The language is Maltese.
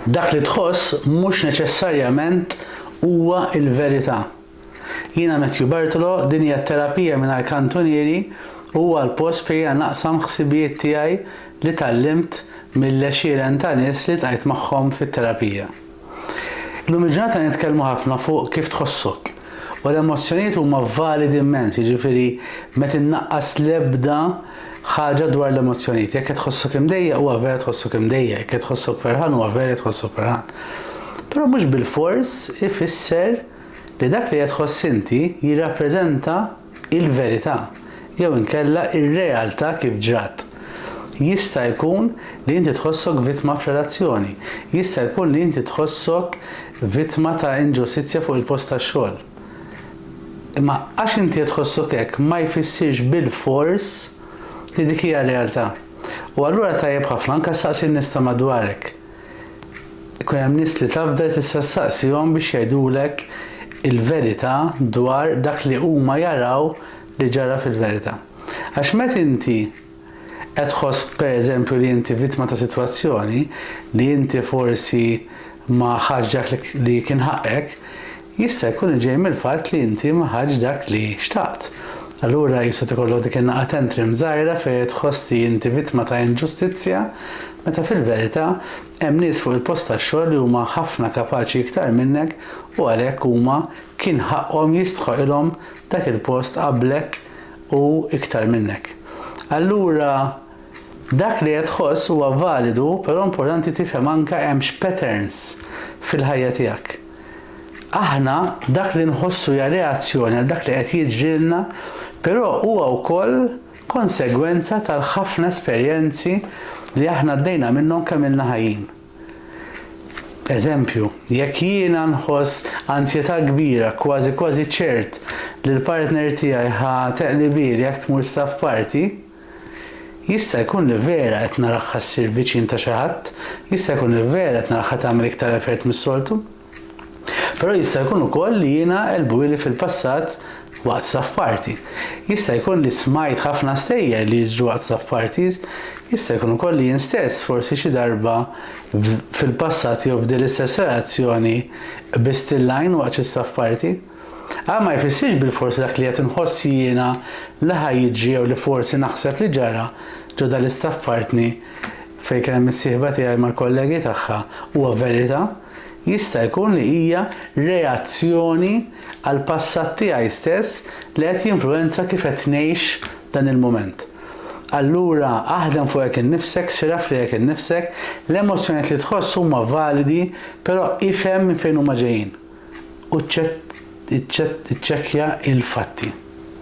Dak li tħoss mhux neċessarjament huwa l-verità. Jiena Matthew Bartolo, din hija Terapija Mingħajr Kantunieri u huwa l-post fejn jiena naqsam ħsibijiet tiegħi li tgħallimt mill-għexieren ta' nies li ltqajt magħhom fit-terapija. Illum il-ġurnata nitkellmu ħafna fuq kif tħossok. U l-emozzjonijiet huma validi immens, jiġifieri ma tinnaqqas l-ebda ħaġa dwar l-emozzjonijiet. Jekk qed tħossok imdejjaq huwa vera tħossok imdejjaq, jekk qed tħossok ferħan huwa vera tħossok ferħan. Però mhux bilfors ifisser li dak li qed tħoss inti jirrappreżenta il-verità jew inkella r-realtà kif ġrat. Jista' jkun li inti tħossok vittma f'relazzjoni. Jista' jkun li inti tħossok vittma ta' inġustizzja fuq il-post tax-xogħol. Imma għax inti qed tħossok hekk ma jfissirx bilfors li dik hija r-realtà. U allura tajjeb ħafna anke ssaqsi n-nies ta' madwarek. Ikun hemm nies li tafda tista' ssaqsihom biex jgħidulek il-verità dwar dak li huma jaraw li ġara fil-verità. Għax met inti qed tħoss pereżempju li inti vittma ta' sitwazzjoni, li inti forsi ma ħadtx dak li kien ħaqqek, Jista' jkun li ġej mill-fatt li inti ma ħadtx dak li xtaqt. Allura qisu tikollok dik in-naqa tantrim żgħira fejn qed tħoss li inti vittma ta' inġustizzja, meta fil-verità hemm nies fuq il-post tax-xogħol li huma ħafna kapaċi iktar minnek u għalhekk huma kien ħaqqhom jistħoqilhom dak il-post qablek u iktar minnek. Allura. Dak li qed tħoss huwa validu però importanti tifhem anke hemm x'patterns fil-ħajja tiegħek. Aħna dak li nħossu hija reazzjoni għal dak li qed jiġrilna però huwa wkoll konsegwenza tal-ħafna esperjenzi li aħna għaddejna minnhom kemm ilna ħajjin. Eżempju, jekk jiena nħoss anzjetà kbira kważi kważi ċert li l-partner tiegħi ħa teqlibieli jekk tmur saf party, Jista' jkun li vera qed narahha ssir viċin ta' xi ħadd, jista' jkun li vera qed narahha tagħmel iktar effert mis-soltu. Però jista' jkun ukoll li jiena qelbuili fil-passat waqt staff party. Jista' jkun li smajt ħafna stejjer li jiġru waqt staff parties. Jista' jkun ukoll li jien stess forsi xi darba fil-passat jew f'din l-istess relazzjoni qbist il-lajn waqt xi staff party. Għan ma jfissirx bilfors li dak li qed inħoss jiena li ħa jiġri jew li forsi naħseb li ġara ġo dal-istat f'partni fejn kien hemm is-sieħba tiegħi mal-kollegi tagħha huwa verità, jista' jkun li hija reazzjoni għall-passat tiegħi stess li qed jinfluwenza kif qed ngħix dan il-mument. Allura aħdem fuqek innifsek, sir af lilek innifsek, l-emozzjonijiet li tħoss huma validi però ifhem minn fejn huma ġejjin. u ċċekkja l-fatti.